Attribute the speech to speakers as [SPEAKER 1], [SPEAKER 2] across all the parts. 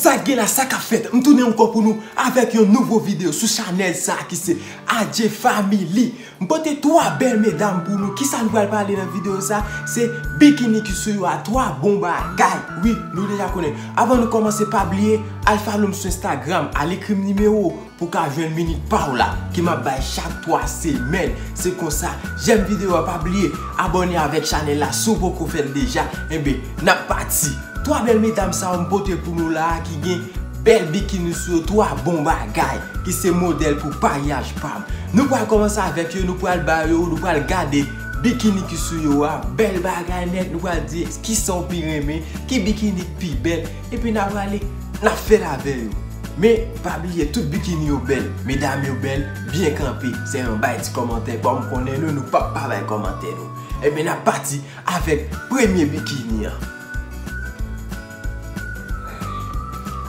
[SPEAKER 1] Sak gen la sakap fèt m tounen ankò pou nou avèk yon nouvo video sou chanèl sa ki se Adje family m pote 3 bèl medam pou nou kisa nou pral pale nan video sa se bikini ki sou yo a 3 bon bagay wi nou deja konnen avan nou kòmanse pa bliye al follow m sou Instagram al ekrim nimewo Pou w ka jwenn minit pa w la ke map bay chak 3 semèn se konsa jèm video a pa bliye abòne avèk chanèl la si w poko fèl deja enben nap pati 3 bèl medam sa yo m pote pou nou la a ki gen bèl bikini sou yo 3 bon bagay ki se modèl pou paryaj pam nou pral kòmanse avèk yo nou pral ba yo nou pral gade bikini ki sou yo a bèl bagay nèt nou pral di kisaw pi renmen ki bikini ki pi bèl. Epi na prale na fel ave yo. Men pa bliye tout bikini yo bel, medam yo bel, byen kanpe, se yon bay ti komantè kom konnen nou nou pap pa bay komantè nou. Ebyen na pati avek premye bikini an.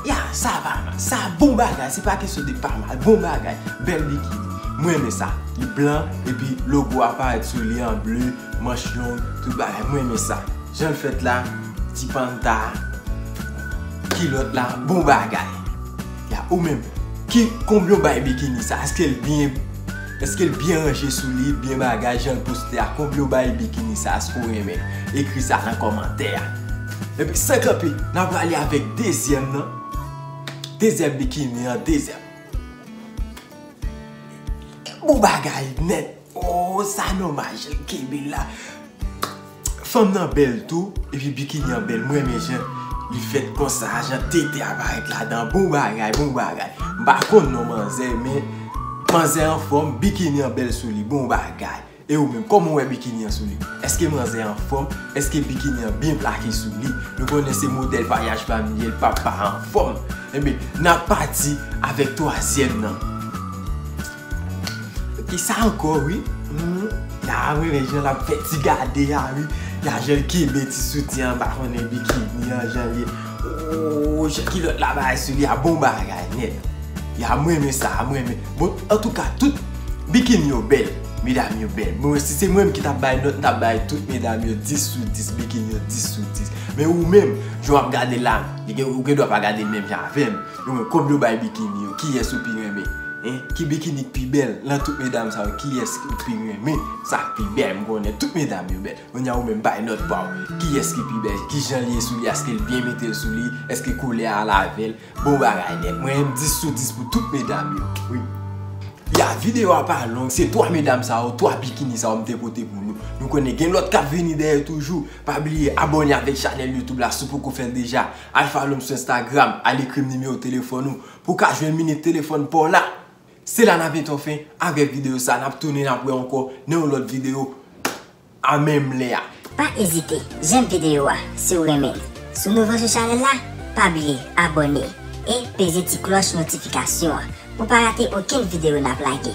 [SPEAKER 1] Ya sa pa mal, sa bon bagay, se pa kesyon de pa mal, bon bagay, bel bikini. M renmen sa, li blan epi logo a paret sou li an ble, manch long, tout bagay, m renmen sa. Janl fèt la ti panta a kilòt la bon bagay ya ou menm ki konbyen ou bay bikini sa eskel byen eskel byen ranje sou li byen bagay janl poste a konbyen ou bay bikini sa eskew renmen ekri sa nan kòmantè a epi san kanpe na prale avèk dezyèm nan dezyèm bikini an dezyèm bon bagay nèt. Ooh sa nomaj li kenbe la. Fanm nan bèl tou epi bikini an bèl m renmen jan li fèt konsa jan tete a parèt ladan bon bagay bon bagay m pa konn non manzè men manzè anfòm bikini an bèl sou li bon bagay e ou menm kòman ou wè bikini an sou li èske manzè a anfòm èske bikini an byen plake sou li nou konnen se modèl vayaj pami ye l pap pa anfòm enben n ap pati avèk twazyèm nan. Ki sa ankò wi? Ya renmen jan lap fè ti gade a wi. Ya jan l kenbe ti soutyen an ba konnen bikini an jan l ye. Ooh jan kilòt la bay sou li a bon bagay nèt. Ya m renmen sa a m renmen. Bon antouka tout bikini yo bèl. Medam yo bèl. Bon si se mwen menm ki tap bay nòt m tap bay tout medam yo 10 sou 10. Bikini yo 10 sou 10. Men ou menm jan wap gade l la ou gendwa pa gade l menm jan avè m. Yo menm kòb yo bay bikini yo kiyès ou pi renmen hein ki bikini ki pi bèl lan tout medam sa yo kiyès ou pi renmen sa k pi bèl m konnen tout medam yo bèl kounya ou menm bay nòt paw kiyès ki pi bèl kijan li ye sou li aske l byen mete l sou li eske koulè a lavel bon bagay nèt mwen menm 10 sou 10 pou tout medam yo wi ya video a pa long se 3 medam sa yo 3 bikini sa yo m te pote pou nou nou konnen gen lòt kap vini dèyè toujou pa bliye abòne avèk chanèl youtube la si w poko fè l deja. Al follow m sou Instagram, al ekri m nimewo telefòn ou pou w ka jwenn minit telefòn pa w la. Se la n ap etan fen avèk videyo sa, n ap tounen n ap wè ankò nan yon lòt videyo a menm lè a. Pa ezite
[SPEAKER 2] jèm videyo a si w renmen li. Si w nouvo sou chanèl la, pa bliye abòne e peze ti klòch notifikasyon an pou w pa rate okenn videyo n ap lage.